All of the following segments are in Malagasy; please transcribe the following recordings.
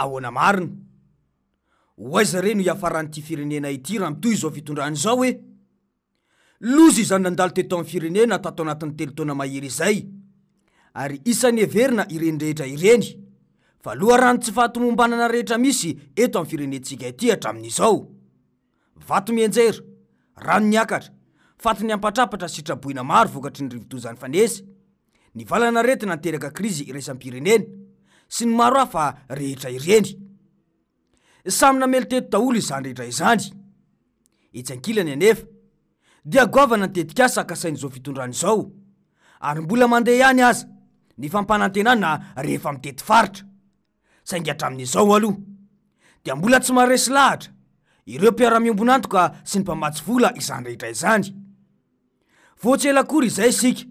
Ahoana marina? Ho aiza re no hiafaran'ity firenena ity raha mitohy izao fitondrana izao e? Loza izany nandalo teto amin'ny firenena tato anatin'ny telo taona mahery izay. Ary isan'ny heverina ireny rehetra ireny fa loharanon'ny tsy fahatomombanana rehetra misy eto amin'ny firenentsika ity hatramin'izao. Vato mianjera, rano niakatra, faty niampatrapatra sy traboina maro vokatry ny rivodoza nifanesy, ny valan'aretina niteraka krizy iraisam-pirenena, sy ny maro hafa rehetra ireny. Samy namely teto daholo izany rehetra izany. Etsy ankilany anefa, dia goavana ny tetikasa kasain'izao fitondrana izao, ary mbola mandeha ihany aza ny fampanantenana rehefa mitety faritra. saingy hatramin'izao aloha dia mbola tsy maharesy lahatra ireo mpiara-miombon'antoka sy ny mpamatsy vola izany rehetra izany. Vao tsy ela akory izay isika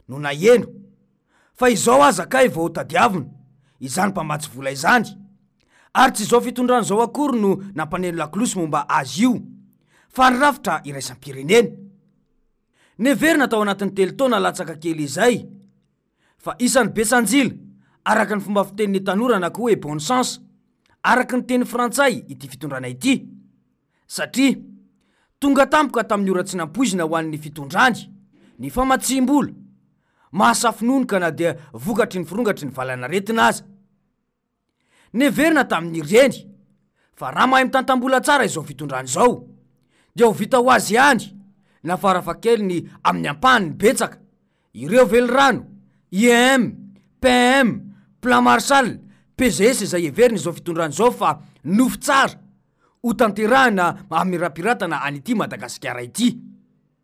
no naheno fa izao aza kay vao tadiavina izany mpamatsy vola izany ary tsy izao fitondrana izao akory no nampaneno lakolosy momba azy io fa ny rafitra iraisam-pirenena. Neverina tao anatin'ny telo taona latsaka kely izay. fa isan'ny Betsanjila, araka ny fomba fitenin'ny tanora na koa hoe bon sens, araka ny teny frantsay, ity fitondrana ity. Satria tonga tampoka tamin'ny ora tsy nampoizina ho an'ny fitondrany ny famatsiam-bola mahasafononoka na dia vokatry ny firongatry ny valanaretina aza. Neverina tamin'ny reny fa raha mahay mitantam-bola tsara izao fitondrana izao dia ho vita ho azy ihany na farafahakeliny amin'ny ampahany betsaka ireo velirano, IEM, PEM, Plan Marshall, PGS izay heverina izao fitondrana izao fa nofy tsara ho tanterahina hamirapiratana an'ity Madagasikara ity.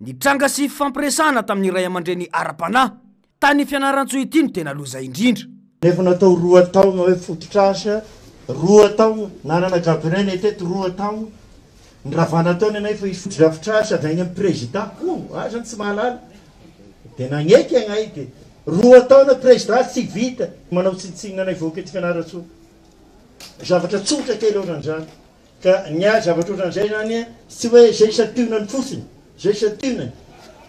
Nitranga sy fifampiresahana tamin'ny ray aman-dreny ara-panahy tany Fianarantsoa ity no tena loza indrindra. Efa natao roa taogna hoe fototr'asa, roa taogna, nanana Gabriel Netete roa taogna, ny Ravanataony anay efa hisy fotodrafitr'asa avy agny amin'ny Prezidà, oh! ah zany tsy mahalala, dia nagneky agnay dia roa taogna Prezidà tsy vita, manao tsinontsinona anay vahoaka eto Fianarantsoa, zavatra tsotra kely ohatran'izany. Ka ny ahy zavatra ohatran'izay izany tsy hoe izay santionany fotsiny, izay santionany,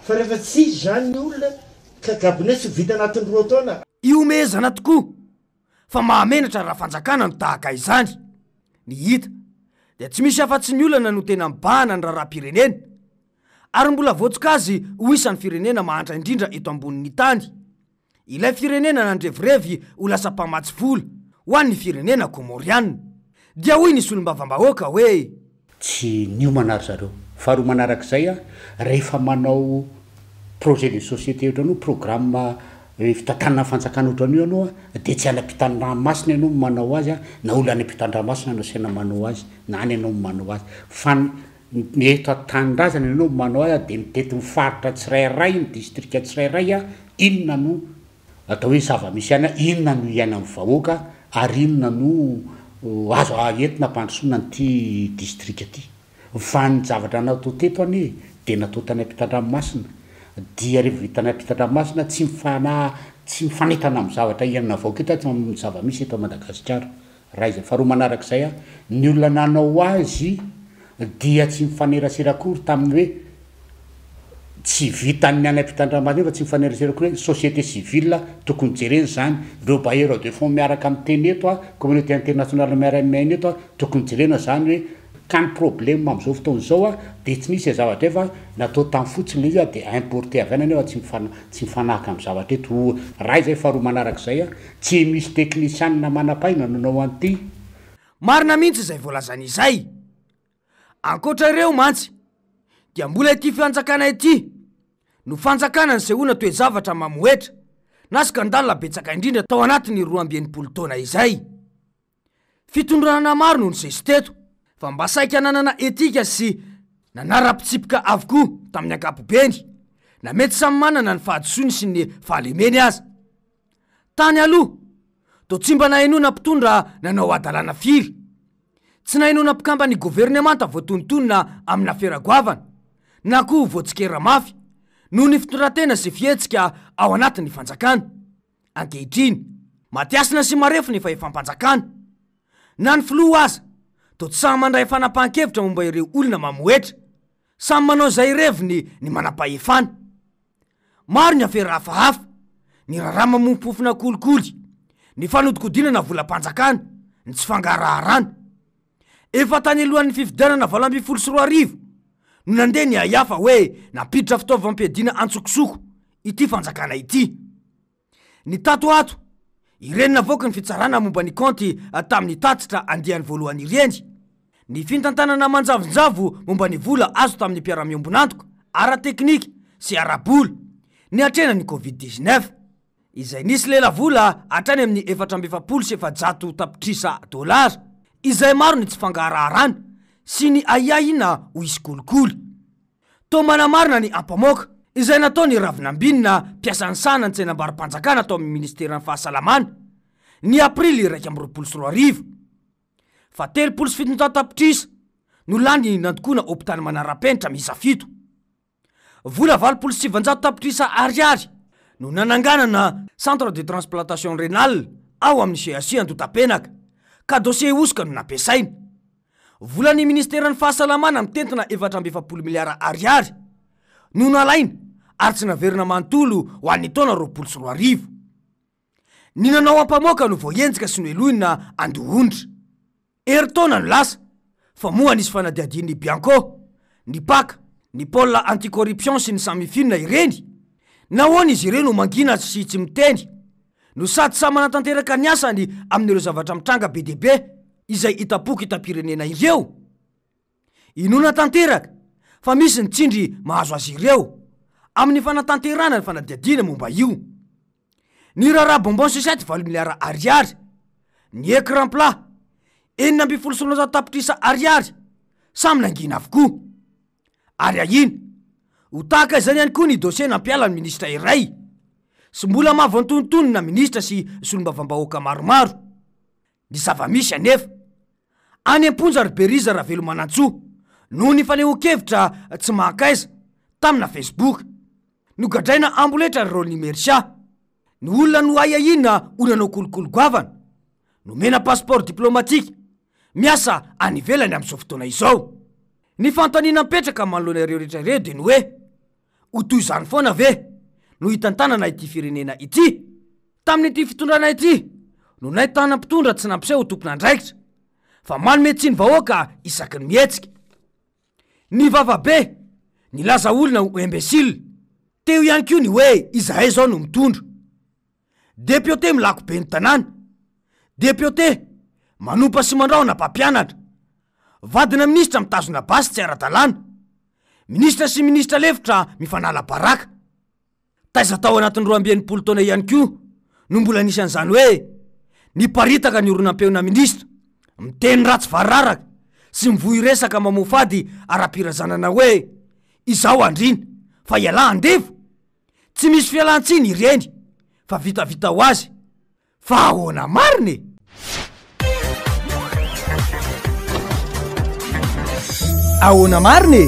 fa rehefa tsy izy izany ny olona ka gabone tsy ho vita anatin'ny roa taona. Ihomehezana tokoa fa mahamenatra raha fanjakana no tahaka izany. Ny hita dia tsy misy afa-tsy ny olana no tena mibahana ny raharaham-pirenena ary mbola voatsoka azy ho isan'ny firenena mahantra indrindra eto ambonin'ny tany Ilay firenena nandrevirevy ho lasa mpamatsy vola ho an'ny firenena Kômôriana. Dia hoy ny solombavambahoaka hoe. Tsy niomana ry zareo. Faharoa manarak'izay aho, rehefa manao projet de société ohatran'io, programme fitantanana fanjakana ohatran'io ianao dia tsy any am-pitandramasina ianao no manao azy na olona any am-pitandramasina no asaina manao azy na any ianao no manao azy fa ny Ny eto an-tanindrazana ianao manao ahy dia mitety ny faritra tsirairay, ny distrika tsirairay aho, inona no atao hoe zava-misy any, inona no iainan'ny vahoaka ary inona no azo entina hampandrosoana an'ity distrika ity. Fa ny zavatra natao teto anie dia natao tany am-pitandranomasina, dia rehefa vita tany am-pitandranomasina tsy mifana- tsy mifanentana amin'ny zavatra iainana vahoaka eto amin'ny zava-misy eto Madagasikara. Raisin, faharoa manaraka izay aho, ny olona nanao azy dia tsy mifanerasera akory tamin'ny hoe tsy vitan'ny any ampitandramaty fa tsy mifanerasera akory hoe société civile tokony jerena izany, ireo bailleurs de fonds miaraka miteny eto, communauté internationale miara-miaina eto, tokony jerena izany hoe Ka ny problème amin'izao fotoana izao dia tsy misy zavatra hay fa natao tany fotsiny izy dia importer avy any nefa tsy mifanahaka amin'ny zavatra eto voa ray izay faharoa manaraka izay tsy misy teknisianina manampahaina no nanao an'ity Marina mihitsy izay voalazany izay. Ankoatra ireo mantsy dia mbola ity fianjakana ity no fanjakana nisehoana toe-javatra mamohetra na scandale betsaka indrindra tao anatin'ny roa amby enimpolo taona izay. Fitondrana maro no nisesy teto fa mba saika nanana etika sy nanara-pitsipika avokoa tamin'ny ankapobeny, na mety samy manana ny fahadisoany sy ny fahalemeny aza. Tany aloha, toa tsy mba nahenoana mpitondra nanao hadalana firy. Tsy nahenoana mpikamban'ny governemanta voatonontonona amina fera goavana, na koa voatsikera mafy, noho ny fitondran-tena sy fihetsika ao anatin'ny fanjakana. ankehitriny. Matiasina sy marefo ny fahefam-panjakana. Na ny filoha aza toa tsy sahy mandray fanapahan-kevitra momba ireo olona mamohetra. Samy manao izay ireviny ny manam-pahefana. Maro ny afera hafahafa, ny raharaha mamofompofona kolikoly, ny fanodinkodinana volam-panjakana, ny tsy fangaraharana. Efa tany alohan'ny fifidianana valo ambin'ny folo sy roa arivo no nandeha ny haihafa hoe nampiditra fitaovam-piadiana antsokosoko ity fanjakana ity. Ny tato ato, ireny navoaky ny fitsarana momba ny kaonty tamin'ny tatitra andiany voalohany ireny, ny fintantanana manjavonjavo momba ny vola azo tamin'ny mpiara-miombon'antoka ara-teknika sy ara-bola niatrehana ny Covid dix-neuf. izay nisy lelavola hatrany amin'ny efatra amby efapolo sy efajato tapitrisa dolara, izay maro ny tsy fangaraharana sy ny ahiahina ho hisy kolikoly. Toa manamarina ny ampamoaka, izay nataon'i Ravinambinina, mpiasa nisahana ny tsenam-barom-panjakana tao amin'ny Ministeran'ny Fahasalamana, ny Aprily iraika amby roapolo sy roa arivo, fa telopolo sy fitonjato tapitrisa no lany nandokoana hopitaly manara-penitra miisa fito. Vola valopolo sy sivinjato tapitrisa Ariary no nananganana Centre de transplantation rénale ao amin'ny CHU Antotapenaka, ka dossier hosoka no nampiasaina. Volan'ny Ministeran'ny Fahasalamana mitentina efatra amby efapolo miliara Ariary no nalaina ary tsy naverina manontolo ho an'ny taona roapolo sy roa arivo. Ny nanao ampamoaka no voahenjika sy nohelohina andohondra. Herintaona no lasa, fa moa nisy fanadihadian'ny Bianco, ny pac, ny pôle anti-corruption sy ny Samifin ireny? Nahoana izy ireo no mangina sy tsy miteny, no sady samy manatanteraka ny asany amin'ireo zavatra mitranga be dia be izay hita pok'itam-pirenena ireo? Inoana tanteraka fa misy ny tsindry mahazo azy ireo amin'ny fanatanterahana ny fanadihadiana momba io. Niraharaha bonbon sucette valo miliara Ariary, ny écran plat enina ambin'ny folo sy roanjato tapitrisa Ariary samy nangina avokoa. Ary ahiana ho tahaka izany ihany koa ny dosie nampiala ny minisitra iray sy mbola mahavoantontonona minisitra sy solombavambahoaka maromaro. Ny zava-misy anefa, any am-ponja ry Beriza Ravelomanantsoa, noho ny fanehoan-kevitra tsy mahankaiza, tamina Facebook. Nogadraina amboletra ry Rolly Mercia. Ny olona noahiahiana ho nanao kolikoly goavana. Nomena passeport diplomatique. Miasa any ivelany amin'izao fotoana izao. Ny fanontaniana mipetraka manoloana ireo rehetra ireo dia ny hoe, Ho toy izany foana ve no hitantanana ity firenena ity? Tamin'ity fitondrana ity no nahitana mpitondra tsy nampiseho ho tompon'andraikitra, fa manome tsiny vahoaka isaky ny mihetsika. Nivava be, nilaza olona ho imbécile. Teo ihany koa ny hoe izahay izao no mitondra. Depiote milako ben'ny tanàna. Depiote manompa sy mandrahona mpampianatra. Vadina minisitra mitazona basy tsy ara-dalàna. Minisitra sy minisitra lefitra mifanala baraka. Taiza tao anatin'ny roa amby enimpolo taona ihany koa no mbola nisy an'izany hoe niparitaka ny oronam-peona minisitra miteny ratsy variraraka sy mivoy resaka mamoa fady ara-pirazanana hoe izao andriana fa ialahy andevo? Tsy misy fialantsiny ireny fa vitavita ho azy fa ahoana marina e! Ahoana marina e!